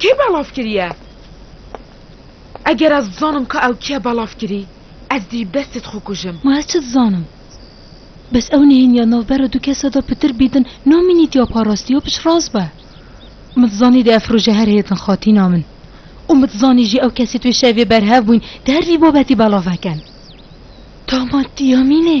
Kê belav kiriye? Eger ez bizanim ka ew kî ye belav kirî, ez dî bi destê dixwe kujim. Ma ez çi dizanim? Bes ew nêhêniya navbera du kese de pitir bîdin na mînî tîya parastî yo piştrast be. Mi dizanî di ev roje her hêtin xatîna min. Û mi dizanî jî ew kesî tu şevê berhev bûyn di her vî babetî belav veken. Dama tîya mînê.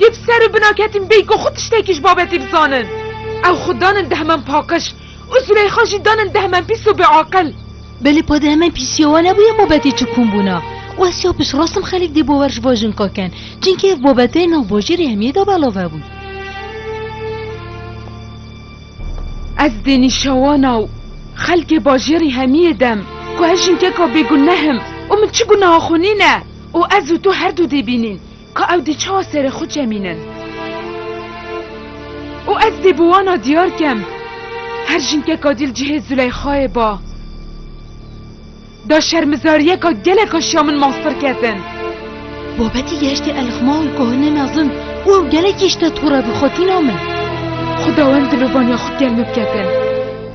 Yê bi ser û bina ketîn bêyî ku xwe tiştekî ji babetê bizanin. Ew xwe danin deheman paqij û Zûleyxa jî danin deheman pîs û bêaqil. Belê pa deheman pîsîya wan hebûye babetê çi kom bûna û ez ya piştrast im xelk dê bawer ji van jinka kin çinkî ev babete nav bajêrê hemiyê de belav hebûn. Ez dê nîşewana û xelkê bajêrî hemiyê dem ku ez jinkeka bêguneh im û min çi guneha xwe nîne û ez û tu herdû dê bînîn. Ka ew dê çawa serê xwe çemînin? Û ez dê bi wana diyar kem, her jinkeka dîl cihê Zûleyxayê ba. Da şermizariyeka geleka şiya min mastir ketin. Babetî gehiştî Elixma û Kohine Mezin û ew gelekî ji te tûre bû xwe tîna min. Xwedawend di lovaniya xwe kel min biketin.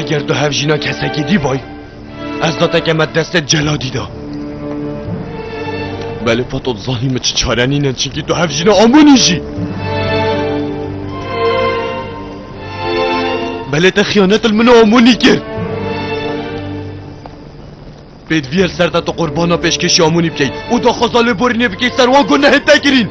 Eger tu hevjîna kesekî dî bay, ez dateke me destê celadî da. Belê fato zanî min çi çarenîne çinkî tu hevjîna amonî jî. Belê te xiyanetil min amonî kir. Pêdivî li ser te tu qurbana pêşkêşî Amonî bikey û daxwaza lêborînê bikey ser wan ku nehê te kirîn.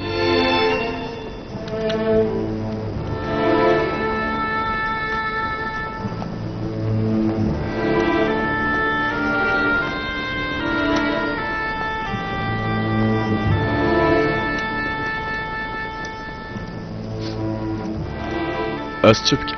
Ez çi bikim?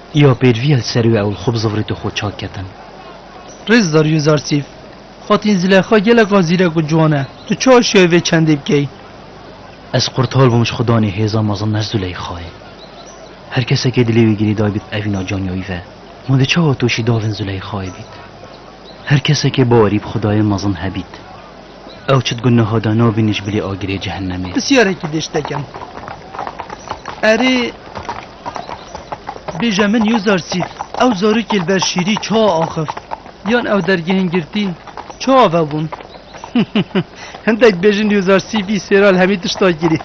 Îya pêrvîya li ser wê ew li xwe bi zivrêtê xwe çak ketin. Rêzdar Yuzarsîf, Xatîn Zileyxa gelek a zîrek û ciwan e. Tu çi aşiyayî vê çendê bikeyî? Ez qurtal bûm ji xwedanê hêza mezin ne Zileyxayê. Her kesekê dilê wî girêdayî bît evîna caniya wî ve. Ma dê çawa tu jî davên Zileyxayê bît? Her kesekê bawerî bi xwedayê mezin hebît. Ew çi digot niha da nabîne ji bilî agirê cehennemê. Pisyarekî dê ji te kem. Erê bêje min yo zarsît ew zarokê li ber şîrî çawa axivt yan ew dergehên girtîn çawa vebûn. Hindek bêjin yo zarsî bî sêral hemî tişta kirî.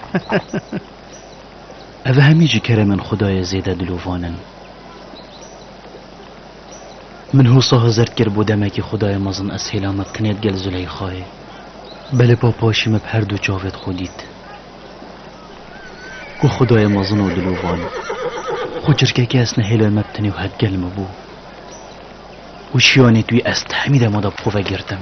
Ev hemî ji keremên xwedayê zêde dilovan in. Min hosa hizir kir bo demekî xudayê mezin ez hêla me kinê di gel Züleyxayê. Belê pa paşî me bi her du çavê di xwe dît. Ku xudayê mezin û dilovan. Xwe çirkekê esne hêlay me bi tenê û hetgel me bû. Û şiyanê tu yê ez ti hemî dema de bi xwe vegirtim.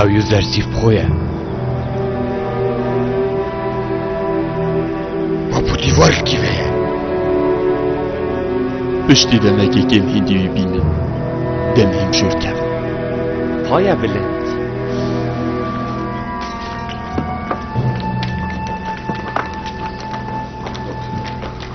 Ew yu zersîf xo ye. Babu dîvar li kî ve ye? Piştî demekê kêm hîndî wî bînin. Dem hîm şûr kevin. Paya bilind.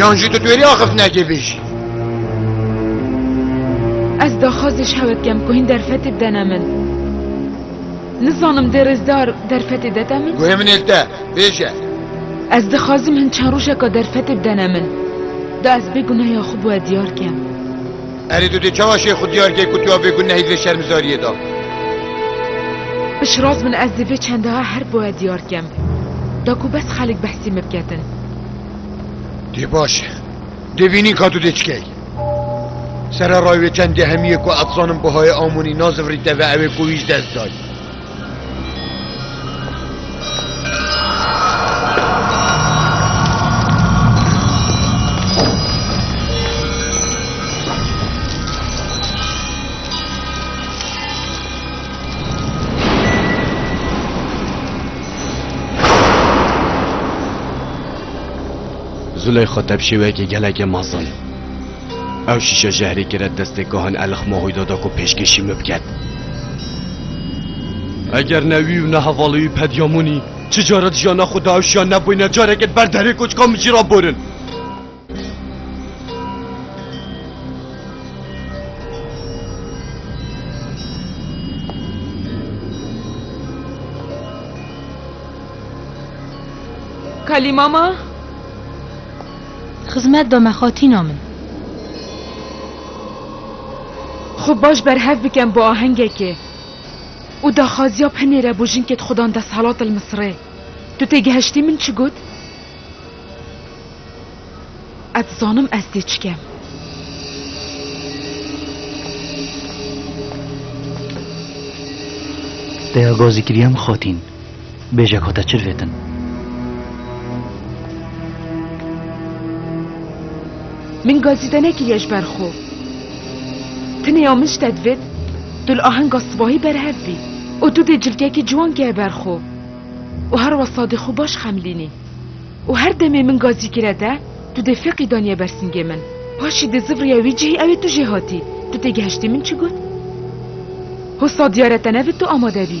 Yan jî tu twêrî axiftinekê bêjî. Ez daxwaz ji hewe dikem ku hîn derfetê bidene min. Nizanim dê rêzdar derfetê dete min? Guhê min ê li te, bêje. Ez dixwazim hin çend rojeka derfetê bidene min. Da ez bê gunehê xwe bi we diyar kem. Erê tu dê çawa şêx xwe diyar kê ku tu ya vê gunehî di vê şermizariyê de? Piştrast min ez dê vê çendaha her bi we diyar kem. Da ku bes xelk behsî min biketin. Dê baş e. Dê bînîn ka tu dê çikey. Sererayê wê çend gehemiyê ku ez zanim bihayê Amonî nazivirî teve ew ê ku wî ji dest dayî. Züleyxa te bi şêweyekê gelekê mezin. Ew şîşe jehrê kire destê Kahin Elix Mahoyda da ku pêşkêşî min biket. Eger ne wî û ne hevalê wî Pedyamonî çi care di jiyana xwe de ew şiya nebûyne careke di ber derê koçika min jî re borin. Kalî mama? Xizmet be me xatîna min. Xwe baş berhev bikem bi ahengekê û daxwaziya Penêre bo jinkê dixudan desthilat li Misirê. Tu têgihiştî min çi got? Ez dizanim ez dê çi kem. Daya gazî kiriyem xatîn. Bêjek hate çirvêtin. Min gazîde nekiriye ji ber xwe. Tineya min ji te divêt tu li ahenga sibahî berhev bî û tu dê cilkekî ciwan keye ber xwe û her west sadê xwe baş xemilînî û her demê min gazî kire te tu dê feqî daniye ber singê min. Paşî dê zivriye wî cihî ew ê tu jê hatî. Tu têgihiştî min çi got? Hosa diyar e te ne bi tu amade bî.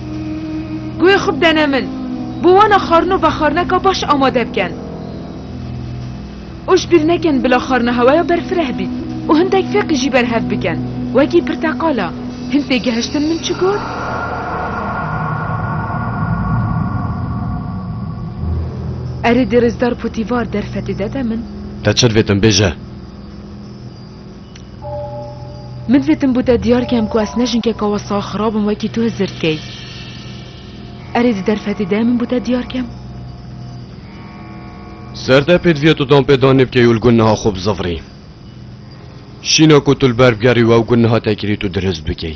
Guhê xwe bidene min, bo wana xwarin û vexwarineka baş amade bikin û ji bîr nekin bila xwarina hewaya berfireh bît û hindek feqî jî berhev bikin wekî pirteqala. Hin têgihiştin min çi got? Erê dê rêzdar potîvar derfetê de de min. Te çi divêt em bêje? Min zêtin bû te diyar kem ku ez ne jinkeka we sax xirab im wekî tu hizir dikey. Erê di derfetê de min bû te diyar kem. Ser te pê divîya tu dan pê danê bikey û li gund niha xwe bizivirî. Şîna ku tu li ber bigerî û ew gund niha te kirî tu dirist bikey.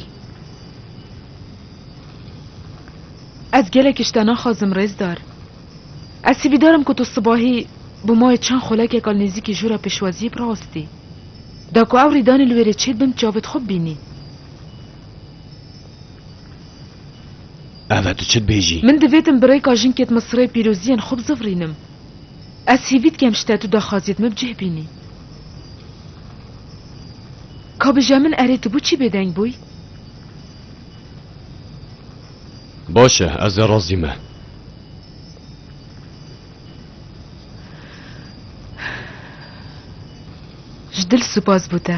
Ez gelek ji te naxwazim rêzdar. Ez hîvîdar im ku tu sibahî bi mayê çend xulekeka li nêzîkî jûra pêşwaziyê bi rastî. Da ku ew rîdanê li wê re çê dibin, çavê dixwe bibînî. Eve tu çi dibêjî? Min divê tim bi rêka jinkê di min sirê pîroziyên xwe bizivirînim. Ez hêvî dikem ji te tu daxwaziyê di min bi cih bînî. Ka bije min erê tu boçî bêdeng bûyî? Baş e, ez ê razî me. Ji dil spas bo te.